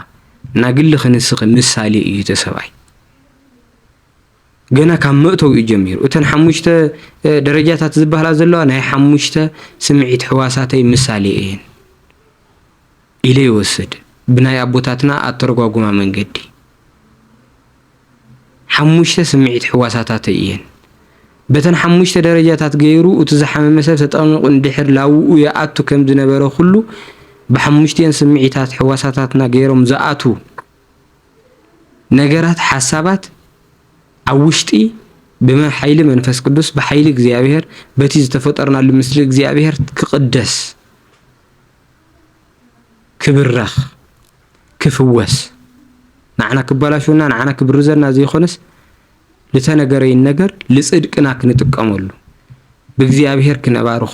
ናግልኺ ንስኺ ምሳሌ እዩ እቲ ሰብኣይ ገና ካብ መእተዊኡ ጀሚሩ እተን ሓሙሽተ ደረጃታት ዝበሃላ ዘለዋ ናይ ሓሙሽተ ስምዒት ሕዋሳተይ ምሳሌ እየን ኢለ ይወስድ ብናይ ኣቦታትና ኣተረጓጉማ መንገዲ ሓሙሽተ ስምዒት ሕዋሳታተይ እየን በተን ሓሙሽተ ደረጃታት ገይሩ እቲ ዝሓመመ ሰብ ተጠቕሚቑ እንድሕር ላውኡ ይኣቱ ከም ዝነበረ ኩሉ ብሓሙሽቲኤን ስምዒታት ሕዋሳታትና ገይሮም ዝኣትዉ ነገራት ሓሳባት ኣብ ውሽጢ ብመሓይሊ መንፈስ ቅዱስ ብሓይሊ እግዚኣብሔር በቲ ዝተፈጠርናሉ ምስሊ እግዚኣብሔር ክቕደስ ክብረኽ ክፍወስ ንዓና ክበላሽውና ንዓና ክብርዘና ዘይኮነስ ልተነገረይን ነገር ልጽድቅና ክንጥቀመሉ ብእግዚኣብሔር ክነባርኾ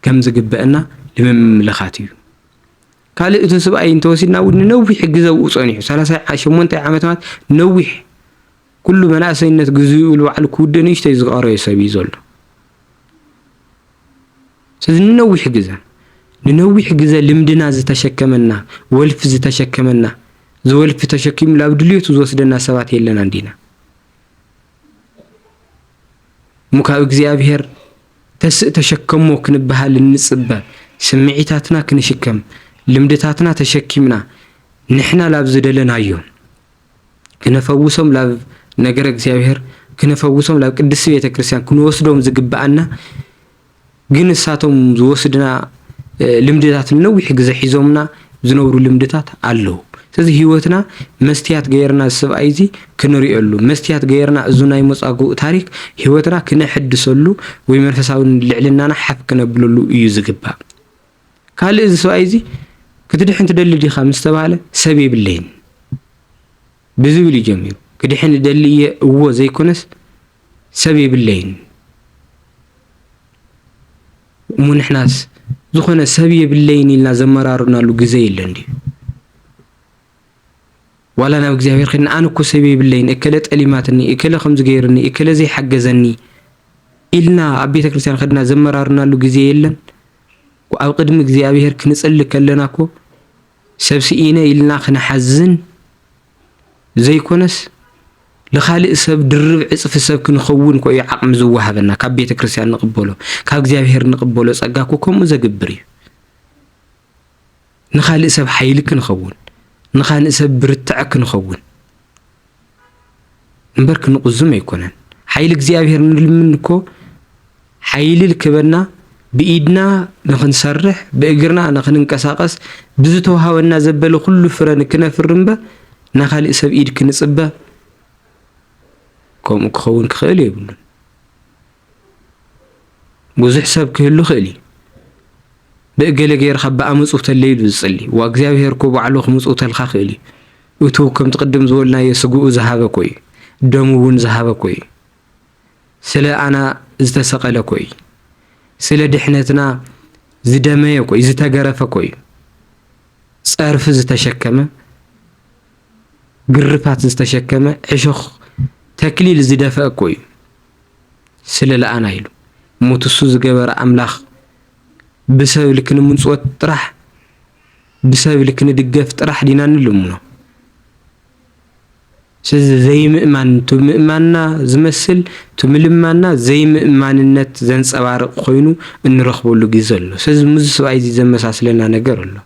ከም ዝግበአና ልምምልኻት እዩ። ካልእ እቲ ስብኣይ እንተወሲድና እውን ንነዊሕ ግዘ ኣብኡ ፀኒሑ ሰላሳ ሸሞንተ ዓመት ማለት ነዊሕ ኩሉ መናእሰይነት ግዝኡ ንባዕሉ ክውድእ ንእሽተይ ዝቐረዮ ሰብ እዩ ዘሎ ስለዚ ንነዊሕ ግዘ ንነዊሕ ግዘ ልምድና ዝተሸከመና ወልፊ ዝተሸከመና ዝወልፊ ተሸኪሙ ላብ ድልቱ ዝወስደና ሰባት የለና እንዲና እሞ ካብ እግዚኣብሄር ተስእ ተሸከሞ ክንበሃል እንጽበ ስምዒታትና ክንሽከም ልምድታትና ተሸኪምና ንሕና ላብ ዝደለናዮ ክነፈውሶም ላብ ነገረ እግዚኣብሔር ክነፈውሶም ላብ ቅድስቲ ቤተክርስትያን ክንወስዶም ዝግበኣና ግን እሳቶም ዝወስድና ልምድታት ንነዊሕ ግዘ ሒዞምና ዝነብሩ ልምድታት ኣለዉ። ስለዚ ህይወትና መስትያት ገይርና ሰብኣይ እዚ ክንሪኦሉ መስትያት ገይርና እዚ ናይ መጻጉ ታሪክ ህይወትና ክነሐድሰሉ ወይ መንፈሳዊ ልዕልናና ሓፍ ክነብለሉ እዩ ዝግባእ። ካልእ እዚ ሰብኣይ እዚ ክትድሕን ትደሊ ዲኻ ምስ ተባህለ ሰብ የብለይን ብዝብል እዩ ጀሚሩ። ክድሕን እደሊ እየ እዎ ዘይኮነስ ሰብ የብለይን እሞ ንሕናስ ዝኾነ ሰብ የብለይን ኢልና ዘመራርናሉ ግዘ የለን ድዩ? ዋላ ናብ እግዚኣብሔር ከድና ኣነ እኮ ሰብ የብለይን እከለ ጠሊማትኒ፣ እከለ ከምዚ ገይርኒ፣ እከለ ዘይሓገዘኒ ኢልና ኣብ ቤተክርስትያን ከድና ዘመራርናሉ ግዜ የለን? ኣብ ቅድሚ እግዚኣብሔር ክንጽሊ ከለና እኮ ሰብ ስኢነ ኢልና ክንሓዝን ዘይኮነስ ንኻልእ ሰብ ድርብ ዕፅፊ ሰብ ክንኸውን ኮ እዩ ዓቕሚ ዝወሃበና ካብ ቤተ ክርስቲያን ንቕበሎ ካብ እግዚኣብሔር ንቕበሎ ጸጋ እኮ ከምኡ ዘግብር እዩ ንኻልእ ሰብ ሓይሊ ክንኸውን ንኻልእ ሰብ ብርትዐ ክንኸውን እምበር ክንቁዝም ኣይኮነን ሓይሊ እግዚኣብሔር ንልምን እኮ ሓይሊ ልክበና ብኢድና ንክንሰርሕ ብእግርና ንክንንቀሳቀስ ብዝተውሃበና ዘበለ ኩሉ ፍረ ንክነፍር እምበር ናካሊእ ሰብ ኢድ ክንፅበ ከምኡ ክኸውን ክኽእል የብሉን። ብዙሕ ሰብ ክህሉ ይኽእል እዩ ብእገለ ገይርካ ብኣ ምጽውተለይ ኢሉ ዝጽሊ ዋ እግዚኣብሄር እኮ ባዕሉ ክምጽውተልካ ክእል እዩ እቱ ከምቲ ቅድም ዝበልናዮ ስግኡ ዝሃበ ኮይ ደሙ እውን ዝሃበ ኮይ ስለ ኣና ዝተሰቐለ ኮይ ስለ ድሕነትና ዝደመየ ኮይ ዝተገረፈ ኮይ ጸርፊ ዝተሸከመ ግርፋት ዝተሸከመ ዕሾኽ ተክሊል ዝደፈአ ኮይ ስለ ለኣና ኢሉ ሞትሱ ዝገበረ ኣምላኽ ብሰብ ኢልኪ ንምንጽወት ጥራሕ ብሰብ ኢልኪ ንድገፍ ጥራሕ ዲና ንልምኖ ስለዚ ዘይምእማን እቲ ምእማንና ዝመስል እቲ ምልማንና ዘይምእማንነት ዘንጸባርቕ ኮይኑ እንረኽበሉ ግዜ ኣሎ። ስለዚ ምስዚ ሰብኣይ እዚ ዘመሳስለና ነገር ኣሎ።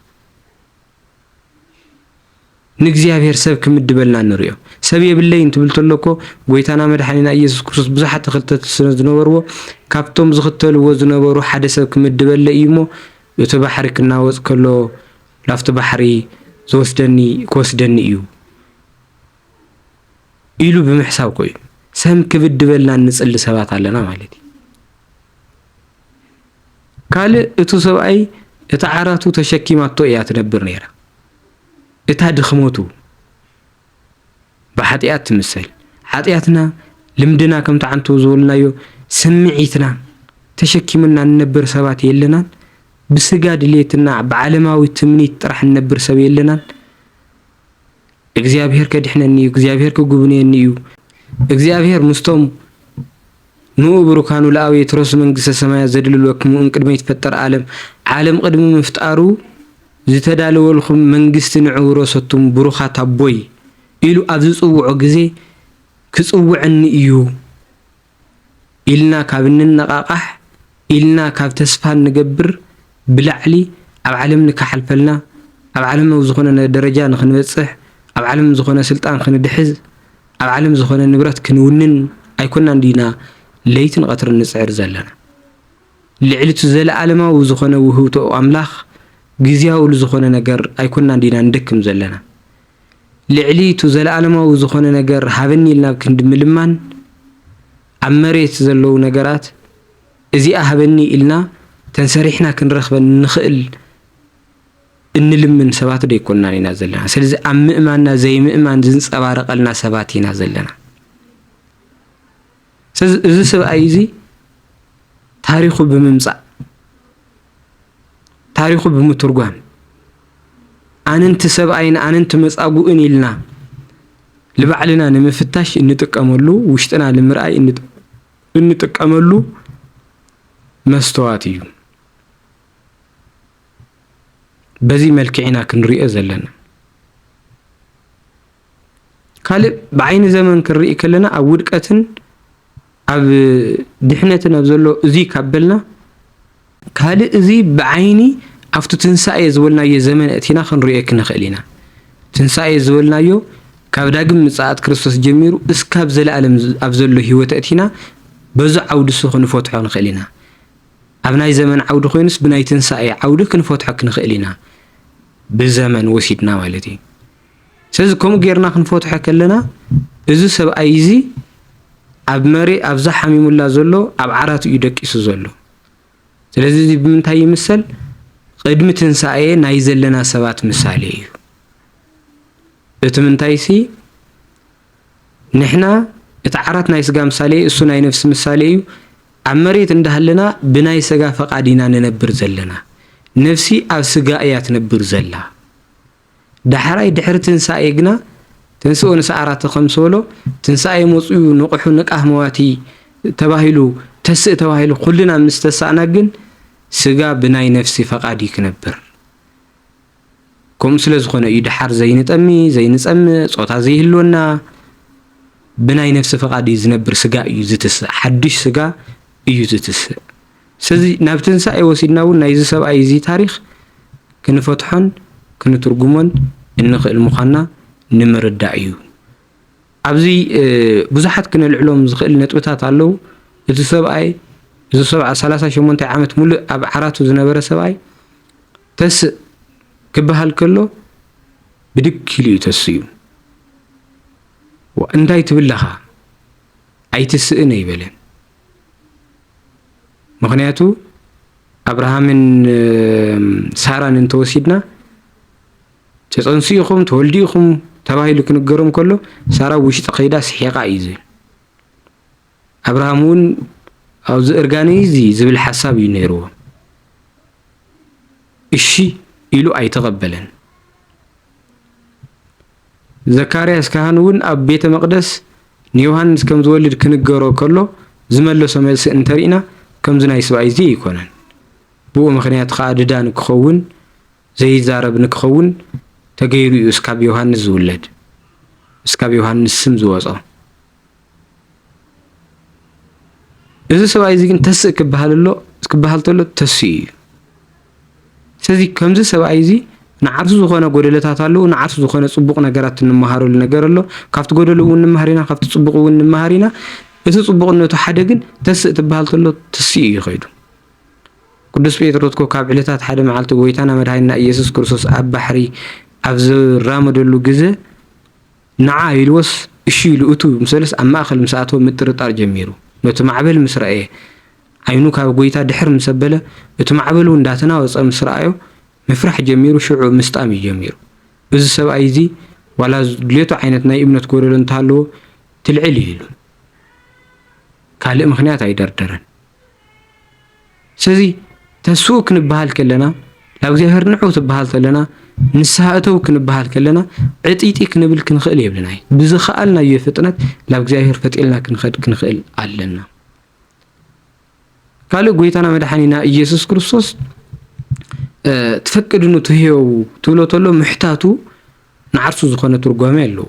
ንእግዚኣብሔር ሰብ ክምድበልና ንርእዮ። ሰብ የብለይን ትብል ተሎ እኮ ጎይታና መድሓኒና ኢየሱስ ክርስቶስ ብዙሓት ተኸተልቲ ስለ ዝነበርዎ ካብቶም ዝኽተልዎ ዝነበሩ ሓደ ሰብ ክምድበለ እዩ እሞ እቲ ባሕሪ ክናወፅ ከሎ ላፍቲ ባሕሪ ዝወስደኒ ክወስደኒ እዩ ኢሉ ብምሕሳብ ኮዩ ሰብ ክብድበልና እንፅሊ ሰባት ኣለና ማለት እዩ። ካልእ እቱ ሰብኣይ እታ ዓራቱ ተሸኪማቶ እያ ትነብር ነይራ እታ ድኽመቱ ብሓጥያት ትምሰል ሓጥያትና ልምድና ከምቲ ዓንቱ ዝበልናዮ ስምዒትና ተሸኪምና ንነብር ሰባት የለናን ብስጋ ድሌትና ብዓለማዊ ትምኒት ጥራሕ ንነብር ሰብ የለናን እግዚኣብሄር ኬድሕነኒ እዩ፣ እግዚኣብሄር ኪጕብንየኒ እዩ፣ እግዚኣብሄር ምስቶም ንእኡ ብሩካኑ ለኣው የትረሱ መንግስተ ሰማያት ዘድልልወክሙ እምቅድመ ይትፈጠር ዓለም ዓለም ቕድሚ ምፍጣሩ ዝተዳለወልኩም መንግስቲ ንዑ ውረሰቱም ብሩኻት ኣቦይ ኢሉ ኣብ ዝጽውዖ ግዜ ክጽውዐኒ እዩ ኢልና ካብ እንነቓቓሕ፣ ኢልና ካብ ተስፋ እንገብር ብላዕሊ ኣብ ዓለም ንካሓልፈልና፣ ኣብ ዓለም ኣብ ዝኾነ ደረጃ ንክንበጽሕ፣ ኣብ ዓለም ዝኾነ ስልጣን ክንድሕዝ፣ ኣብ ዓለም ዝኾነ ንብረት ክንውንን ኣይኮናን ድዩና ለይትን ቐትርን ንጽዕር ዘለና። ልዕሊ'ቲ ዘለኣለማዊ ዝኾነ ውህብቶኡ ኣምላኽ ግዝያዊ ልዝኾነ ነገር ኣይኮናን ድዩና ንደክም ዘለና። ልዕሊ'ቱ ዘለኣለማዊ ዝኾነ ነገር ሃበኒ ኢልናብ ክንዲ ምልማን፣ ኣብ መሬት ዘለዉ ነገራት እዚኣ ሃበኒ ኢልና ተንሰሪሕና ክንረኽበን እንኽእል እንልምን ሰባትዶ ኣይኮንናን ኢና ዘለና። ስለዚ ኣብ ምእማንና ዘይምእማን ዝንጸባረቐልና ሰባት ኢና ዘለና። ስለዚ እዚ ሰብኣይ እዚ ታሪኹ ብምምጻእ ታሪኹ ብምትርጓም ኣንንቲ ሰብኣይን ኣንንቲ መጻጉእን ኢልና ንባዕልና ንምፍታሽ እንጥቀመሉ ውሽጥና ንምርኣይ እንጥቀመሉ መስተዋት እዩ። በዚ መልክዕ ኢና ክንሪኦ ዘለና። ካልእ ብዓይኒ ዘመን ክንርኢ ከለና ኣብ ውድቀትን ኣብ ድሕነትን ኣብ ዘሎ እዙይ ካብ በልና ካልእ እዙይ ብዓይኒ ኣብቲ ትንሳኤ ዝበልናዮ ዘመን እእቲና ክንሪኦ ክንኽእል ኢና። ትንሳኤ ዝበልናዮ ካብ ዳግም ምጽኣት ክርስቶስ ጀሚሩ እስካብ ዘለኣለም ኣብ ዘሎ ህይወት እእቲና በዚ ዓውዲሱ ክንፈትሖ ንኽእል ኢና። ኣብ ናይ ዘመን ዓውዲ ኮይኑስ ብናይ ትንሳኤ ዓውዲ ክንፈትሖ ክንኽእል ኢና። ብዘመን ወሲድና ማለት እዩ። ስለዚ ከምኡ ጌርና ክንፈትሖ ከለና እዚ ሰብኣይ እዚ ኣብ መሬ ኣብዛ ሓሚሙላ ዘሎ ኣብ ዓራቱ እዩ ደቂሱ ዘሎ። ስለዚ እዚ ብምንታይ ይምሰል? ቅድሚ ትንሳኤ ናይ ዘለና ሰባት ምሳሌ እዩ። እቲ ምንታይሲ ንሕና እቲ ዓራት ናይ ስጋ ምሳሌ እዩ፣ እሱ ናይ ነፍሲ ምሳሌ እዩ። ኣብ መሬት እንዳሃለና ብናይ ስጋ ፈቃድ ኢና ንነብር ዘለና። ነፍሲ ኣብ ስጋ እያ ትነብር ዘላ። ዳሕራይ ድሕሪ ትንሣኤ ግና ትንሥኡ ንሰዓራተ ከምዝበሎ ትንሣኤ መጹኡ ንቕሑ ንቃህ መዋቲ ተባሂሉ ተስእ ተባሂሉ ኩልና ምስ ተሳእና ግን ሥጋ ብናይ ነፍሲ ፈቃድ እዩ ክነብር ከምኡ ስለ ዝኾነ እዩ ደሓር ዘይንጠሚ ዘይንጸምእ ጾታ ዘይህልወና ብናይ ነፍሲ ፈቃድ እዩ ዝነብር ሥጋ እዩ ዝትስእ ሓድሽ ሥጋ እዩ ዝትስእ ስለዚ ናብ ትንሳኤ ወሲድና እውን ናይዚ ሰብኣይ እዚ ታሪኽ ክንፈትሖን ክንትርጉሞን እንኽእል ምዃንና ንምርዳእ እዩ። ኣብዚ ብዙሓት ክነልዕሎም ዝኽእል ነጥብታት ኣለዉ። እቲ ሰብኣይ እዚ ሰብዓ ሰላሳ ሸሞንታይ ዓመት ሙሉእ ኣብ ዓራቱ ዝነበረ ሰብኣይ ተስእ ክበሃል ከሎ ብድግ ኢሉ እዩ ተስኡ። እንታይ ትብል ለኻ ኣይትስእን ኣይበለን። ምክንያቱ ኣብርሃምን ሳራን እንተወሲድና ተፀንሱ ኢኹም ተወልዱ ኢኹም ተባሂሉ ክንገሮም ከሎ ሳራ ውሽጢ ከይዳ ስሒቓ እዩ ዝብል ኣብርሃም እውን ኣብዚ እርጋነ እዚ ዝብል ሓሳብ እዩ ነይርዎ እሺ ኢሉ ኣይተቐበለን ዘካርያስ ካህን እውን ኣብ ቤተ መቕደስ ንዮሃንስ ከም ዝወልድ ክንገሮ ከሎ ዝመለሶ መልሲ እንተ ርኢና ከምዚ ናይ ስብኣይዚ ኣይኮነን። ብኡ ምኽንያት ኸኣ ድዳ ንክኸውን፣ ዘይዛረብ ንክኸውን፣ ተገይሩ እዩ እስካብ ዮሃንስ ዝውለድ፣ እስካብ ዮሃንስ ስም ዝወጾ። እዚ ሰብኣይ እዚ ግን ተስእ ክበሃል ኣሎ ክበሃል ተሎ ተስኡ እዩ። ስለዚ ከምዚ ሰብኣይ እዚ ንዓርሱ ዝኾነ ጎደለታት ኣለዎ፣ ንዓርሱ ዝኾነ ጽቡቕ ነገራት እንመሃረሉ ነገር ኣሎ። ካብቲ ጎደሎ እውን ንመሃር ኢና፣ ካብቲ ጽቡቕ እውን ንመሃር ኢና። እቲ ጽቡቕነቱ ሓደ ግን ተስእ ትበሃል ተሎ ተስኡ እዩ ከይዱ። ቅዱስ ጴጥሮስ እኮ ካብ ዕለታት ሓደ መዓልቲ ጎይታና መድሃኒና ኢየሱስ ክርስቶስ ኣብ ባሕሪ ኣብ ዝራመደሉ ግዘ ንዓ ኢልዎስ እሺ ኢሉ እቱ ምስ በለስ ኣብ ማእኸል ምስ ኣተወ ምጥርጣር ጀሚሩ ነቱ ማዕበል ምስ ረኣየ ዓይኑ ካብ ጎይታ ድሕር ምስ ኣበለ እቱ ማዕበል እውን እንዳተናወፀ ምስ ረኣዮ ምፍራሕ ጀሚሩ ሽዑ ምስጣም እዩ ጀሚሩ እዝ ሰብኣይ እዙይ ዋላ ዝድልዮቱ ዓይነት ናይ እምነት ጎደሎ እንተሃለዎ ትልዕል እዩ ኢሉን ካልእ ምኽንያት ኣይደርደረን። ስለዚ ተስኡ ክንበሃል ከለና ናብ እግዚኣብሔር ንዑ ትበሃል ተለና ንስሃ እተው ክንበሃል ከለና ዕጥይጢ ክንብል ክንኽእል የብልናይ ብዝኸኣልናዮ ፍጥነት ናብ እግዚኣብሔር ፈጢልና ክንኸድ ክንኽእል ኣለና። ካልእ ጎይታና መድሓኒና ኢየሱስ ክርስቶስ ትፈቅድኑ ትህየው ትብሎ ተሎ ምሕታቱ ንዓርሱ ዝኾነ ትርጓሜ ኣለዎ።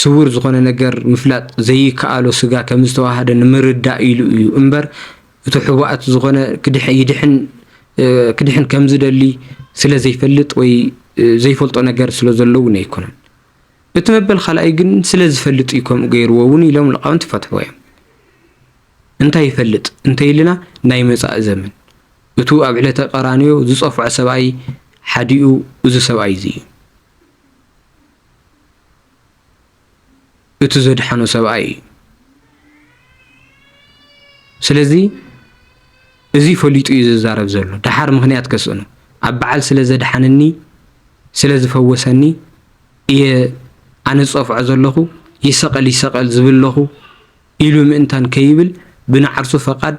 ስዉር ዝኾነ ነገር ምፍላጥ ዘይከኣሎ ስጋ ከም ዝተዋሃደ ንምርዳእ ኢሉ እዩ እምበር እቱ ሕቡኣት ዝኾነ ክድሕን ከም ዝደሊ ስለ ዘይፈልጥ ወይ ዘይፈልጦ ነገር ስለ ዘሎ እውን ኣይኮነን። እቲ መበል ካልኣይ ግን ስለ ዝፈልጥ እዩ ከምኡ ገይርዎ እውን ኢሎም ልቃውንቲ ይፈትሕዎ እዮም። እንታይ ይፈልጥ እንተይልና ናይ መፃኢ ዘመን እቱ ኣብ ዕለተ ቀራንዮ ዝፀፍዖ ሰብኣይ ሓዲኡ እዚ ሰብኣይ እዚ እዩ። እቱ ዘድሓኖ ሰብኣይ እዩ። ስለዚ እዚ ፈሊጡ እዩ ዝዛረብ ዘሎ ደሓር ምክንያት ከስእኑ ኣብ በዓል ስለ ዘድሓነኒ ስለ ዝፈወሰኒ እየ ኣነ ዝፀፍዖ ዘለኹ ይሰቐል ይሰቐል ዝብል ለኹ ኢሉ ምእንታን ከይብል ብናዓርሱ ፈቓድ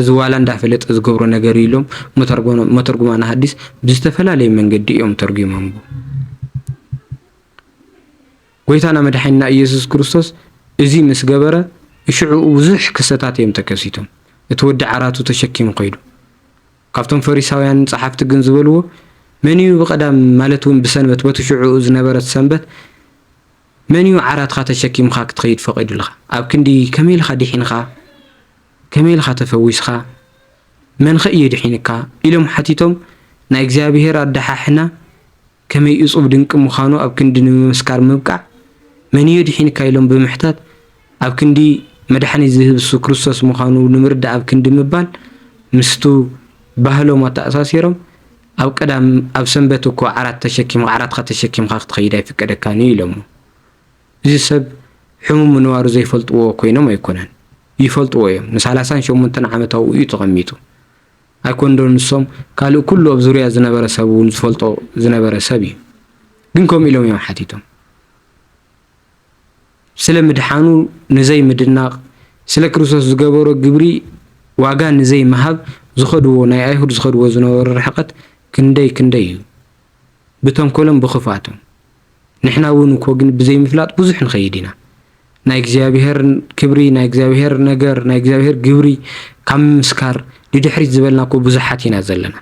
እዚ ዋላ እንዳፈለጠ ዝገብሮ ነገር እዩ ኢሎም መተርጉማነ ሐዲስ ብዝተፈላለየ መንገዲ እዮም ተርጒሞምዎ። ጎይታና መድሓኒና ኢየሱስ ክርስቶስ እዚ ምስ ገበረ ሽዕኡ ብዙሕ ክሰታት እዮም ተከሲቶም። እቲ ወዲ ዓራቱ ተሸኪሙ ከይዱ። ካብቶም ፈሪሳውያንን ጸሓፍቲ ግን ዝበልዎ መን እዩ ብቀዳም ማለት እውን ብሰንበት በቲ ሽዕኡ ዝነበረት ሰንበት መን እዩ ዓራትካ ተሸኪምካ ክትኸይድ ፈቒዱልካ ኣብ ክንዲ ከመይ ኢልካ ዲሒንካ ከመይ ኢልኻ ተፈዊስኻ? መንኸ እዩ የድሒንካ? ኢሎም ሓቲቶም፣ ናይ እግዚኣብሄር ኣደሓሕና ከመይ እጹብ ድንቂ ምዃኑ ኣብ ክንዲ ንምምስካር ምብቃዕ፣ መን እዩ የድሒንካ ኢሎም ብምሕታት ኣብ ክንዲ መድሓኒት ዝህብ እሱ ክርስቶስ ምዃኑ ንምርዳእ ኣብ ክንዲ ምባል ምስቱ ባህሎም ኣተኣሳሲሮም ኣብ ቀዳም ኣብ ሰንበት እኮ ዓራት ተሸኪምካ ዓራትካ ተሸኪምካ ክትኸይድ ኣይፍቀደካን እዩ ኢሎሞ እዚ ሰብ ሕሙም ምንባሩ ዘይፈልጥዎ ኮይኖም ኣይኮነን ይፈልጥዎ እዮም ንሳላሳን ሸሞንተን ዓመት ኣብኡ እዩ ተቐሚጡ ኣይኮንዶ ንሶም ካልእ ኩሉ ኣብ ዙርያ ዝነበረ ሰብ እውን ዝፈልጦ ዝነበረ ሰብ እዩ ግን ከምኡ ኢሎም እዮም ሓቲቶም ስለ ምድሓኑ ንዘይ ምድናቕ ስለ ክርስቶስ ዝገበሮ ግብሪ ዋጋ ንዘይ ምሃብ ዝኸድዎ ናይ ኣይሁድ ዝኸድዎ ዝነበሩ ርሕቐት ክንደይ ክንደይ እዩ ብተንኮሎም ብኽፍኣቶም ንሕና እውን እኮ ግን ብዘይምፍላጥ ብዙሕ ንኸይድ ኢና ናይ እግዚኣብሔር ክብሪ ናይ እግዚኣብሔር ነገር ናይ እግዚኣብሔር ግብሪ ካብ ምምስካር ንድሕሪት ዝበልና እኮ ብዙሓት ኢና ዘለና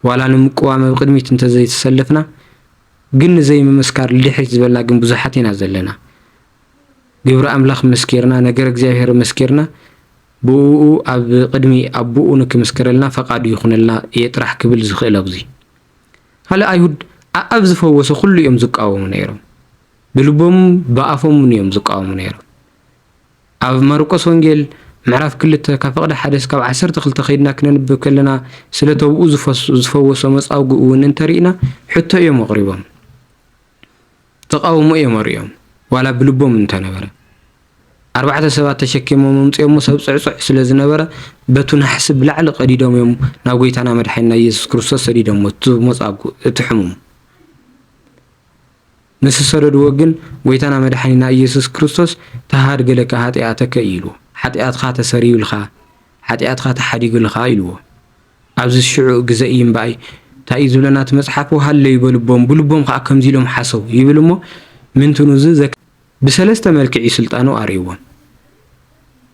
ዋላ ንምቅዋም ኣብ ቅድሚት እንተዘይተሰለፍና ግን ንዘይምምስካር ልድሕሪት ዝበልና ግን ብዙሓት ኢና ዘለና ግብሪ ኣምላኽ መስኪርና ነገር እግዚኣብሔር መስኪርና ብእኡ ኣብ ቅድሚ ኣቦኡ ንክምስክረልና ፈቃዱ ይኹነልና እየ ጥራሕ ክብል ዝኽእል ኣብዚ ካልእ ኣይሁድ ኣኣብ ዝፈወሶ ኩሉ እዮም ዝቃወሙ ነይሮም ብልቦም ብኣፎምን እዮም ዝቃወሙ ነይሮም ኣብ ማርቆስ ወንጌል ምዕራፍ ክልተ ካብ ፍቕዲ ሓደ ስካብ ዓሰርተ ክልተ ከይድና ክነንብብ ከለና ስለ ተብኡ ዝፈወሶ መጻውጉ እውን እንተሪእና ሕቶ እዮም ኣቕሪቦም ተቓውሞ እዮም ኣርእዮም ዋላ ብልቦም እንተነበረ። ኣርባዕተ ሰባት ተሸኪሞም ኣምጺኦሞ ሰብ ጽዕጹዕ ስለ ዝነበረ በቱ ናሕሲ ብላዕሊ ቀዲዶም እዮም ናብ ጎይታና መድሓኒና ኢየሱስ ክርስቶስ ሰዲዶሞ እቲ ሞጻጉ እቲ ሕሙም ምስ ዝሰደድዎ ግን ጎይታና መድሓኒና ኢየሱስ ክርስቶስ ተሃድገ ለከ ሃጢኣተከ ኢሉ ሓጢኣትካ ተሰሪዩልካ ሓጢኣትካ ተሓዲጉልኻ ኢልዎ ኣብዚ ሽዑ ግዘ እዩ እምበኣይ ታይ እዩ ዝብለና እቲ መፅሓፍ ወሃለዩ በልቦም ብልቦም ከዓ ከምዙይ ኢሎም ሓሰቡ ይብል እሞ ምንትኑ እዚ ዘክ ብሰለስተ መልክዕ እዩ ስልጣኑ ኣርእይዎም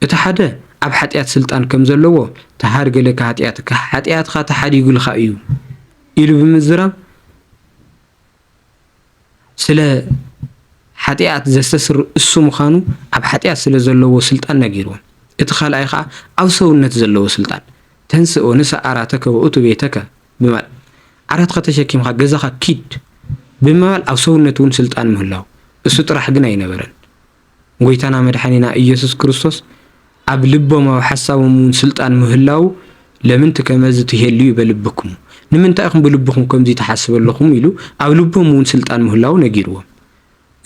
እቲ ሓደ ኣብ ሓጢኣት ስልጣን ከም ዘለዎ ተሃድገለካ ሃጢኣትካ ሓጢኣትካ ተሓዲጉልካ እዩ ኢሉ ብምዝራብ ስለ ሓጢኣት ዘስተስር እሱ ምዃኑ ኣብ ሓጢኣት ስለ ዘለዎ ስልጣን ነጊርዎም። እቲ ካልኣይ ኸኣ ኣብ ሰውነት ዘለዎ ስልጣን ተንሥእ ወንሣእ ዓራተከ ወእቱ ቤተከ ብምባል ዓራትካ ተሸኪምካ ገዛኻ ኪድ ብምባል ኣብ ሰውነት እውን ስልጣን ምህላው እሱ ጥራሕ ግን ኣይነበረን። ጎይታና መድሓኒና እየሱስ ክርስቶስ ኣብ ልቦም ኣብ ሓሳቦም እውን ስልጣን ምህላዉ ለምንት ከመዝ ትሔልዩ በልብክሙ ንምንታይ ኢኹም ብልብኹም ከምዙይ ትሓስብ ኣለኹም ኢሉ ኣብ ልቦም እውን ስልጣን ምህላዉ ነጊርዎም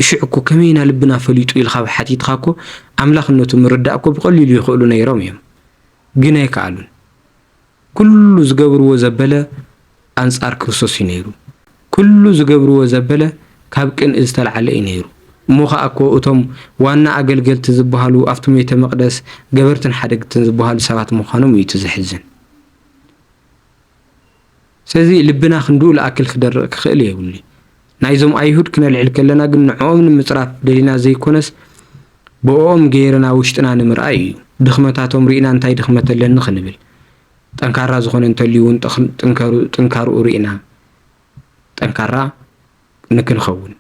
እሽዕ እኮ ከመይ ኢና ልብና ፈሊጡ ኢልካ ሓቲትኻ እኮ ኣምላኽነቱ ምርዳእ እኮ ብቐሊሉ ይኽእሉ ነይሮም እዮም ግን ኣይከኣሉን ኩሉ ዝገብርዎ ዘበለ ኣንጻር ክርስቶስ እዩ ነይሩ። ኩሉ ዝገብርዎ ዘበለ ካብ ቅንኢ ዝተልዓለ እዩ ነይሩ። እሞ ኸኣ እኮ እቶም ዋና ኣገልገልቲ ዝበሃሉ ኣብቲ ሜተ መቅደስ ገበርትን ሓደግትን ዝበሃሉ ሰባት ምዃኖም እዩ እቲ ዘሕዝን። ስለዚ ልብና ክንድኡ ልኣክል ክደርቅ ክኽእል የብሉይ። ናይዞም ኣይሁድ ክነልዕል ከለና ግን ንዕኦም ንምጽራፍ ደሊና ዘይኮነስ ብእኦም ገይርና ውሽጥና ንምርኣይ እዩ። ድኽመታቶም ርኢና እንታይ ድኽመት ኣለኒ ክንብል። ጠንካራ ዝኾነ እንተልዩ እውን ጥንካርኡ ርኢና ጠንካራ ንክንኸውን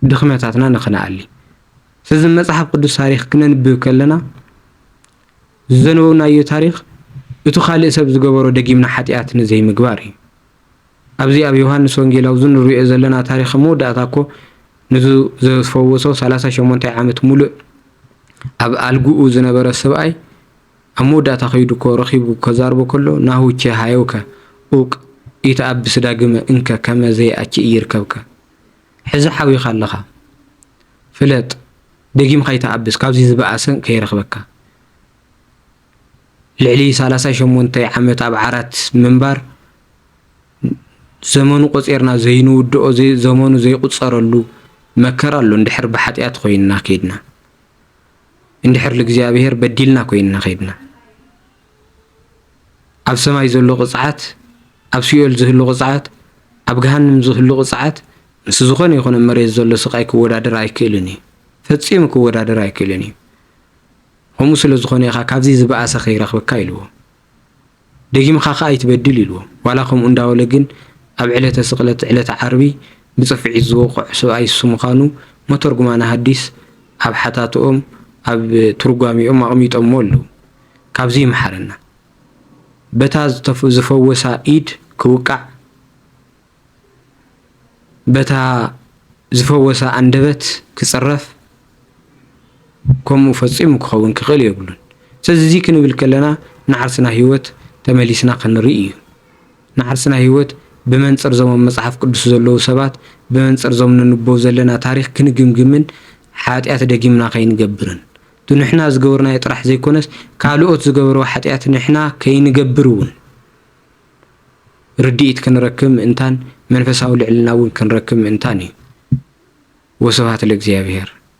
ድኽመታትና ንክንኣሊ። ስለዚ መጽሓፍ ቅዱስ ታሪኽ ክነንብብ ከለና ዘነበብናዮ ታሪኽ እቱ ካልእ ሰብ ዝገበሮ ደጊምና ሓጢኣት ንዘይምግባር እዩ። ኣብዚ ኣብ ዮሃንስ ወንጌላዊ እዚ ንርእዮ ዘለና ታሪኽ መወዳእታ እኮ ንዚ ዘፈወሶ ሰላሳ ሸሞንታይ ዓመት ሙሉእ ኣብ ኣልግኡ ዝነበረ ሰብኣይ ኣብ መወዳእታ ከይዱ እኮ ረኺቡ ከዛርቦ ከሎ ናሁ ቼ ሃዮከ ኡቅ ኢተኣብስ ዳግመ እንከ ከመ ዘይኣቺ እይርከብከ ሕዚ ሓዊኻ ኣለኻ ፍለጥ ደጊም ኸይተኣብስ ካብዚ ዝበኣሰ ከይረኽበካ ልዕሊ ሰላሳ ሸሞንተ ዓመት ኣብ ዓራት ምንባር ዘመኑ ቆጺርና ዘይንውድኦ ዘመኑ ዘይቁጸረሉ መከራ ኣሎ እንድሕር ብሓጢኣት ኮይንና ከይድና እንድሕር ልእግዚኣብሄር በዲልና ኮይንና ከይድና ኣብ ሰማይ ዘሎ ቅጽዓት ኣብ ሲኦል ዝህሉ ቅጽዓት ኣብ ገሃንም ዝህሉ ቅጽዓት ምስ ዝኾነ ይኹነ መሬት ዘሎ ስቃይ ክወዳደር ኣይክእልን እዩ ፈጺሙ ክወዳደር ኣይክእልን እዩ ከምኡ ስለ ዝኾነ ኢኻ ካብዚ ዝበኣሰ ከይረኽበካ ኢልዎ። ደጊምኻ ከኣ ኣይትበድል ኢልዎ። ዋላ ከምኡ እንዳበለ ግን ኣብ ዕለተ ስቅለት ዕለተ ዓርቢ ብጽፍዒት ዝወቕዕ ስብኣይ እሱ ምዃኑ መተርጉማነ ሃዲስ ኣብ ሓታትኦም ኣብ ትርጓሜኦም ኣቕሚጦምዎ ኣለዉ። ካብዚ ይምሓረና። በታ ዝፈወሳ ኢድ ክውቃዕ። በታ ዝፈወሳ ኣንደበት ክጽረፍ ከምኡ ፈጺሙ ክኸውን ክኽእል የብሉን። ስለዚ እዚ ክንብል ከለና ንዓርስና ህይወት ተመሊስና ክንርኢ እዩ። ንዓርስና ህይወት ብመንጽር ዞም ኣብ መጽሓፍ ቅዱስ ዘለዉ ሰባት፣ ብመንጽር ዞም ነንብቦ ዘለና ታሪኽ ክንግምግምን ሓጢኣት ደጊምና ከይንገብርን እቱ ንሕና ዝገበርናዮ ጥራሕ ዘይኮነስ ካልኦት ዝገበርዎ ሓጢኣት ንሕና ከይንገብር እውን ርድኢት ክንረክብ ምእንታን መንፈሳዊ ልዕልና እውን ክንረክብ ምእንታን እዩ። ወስብሃት ለእግዚኣብሔር።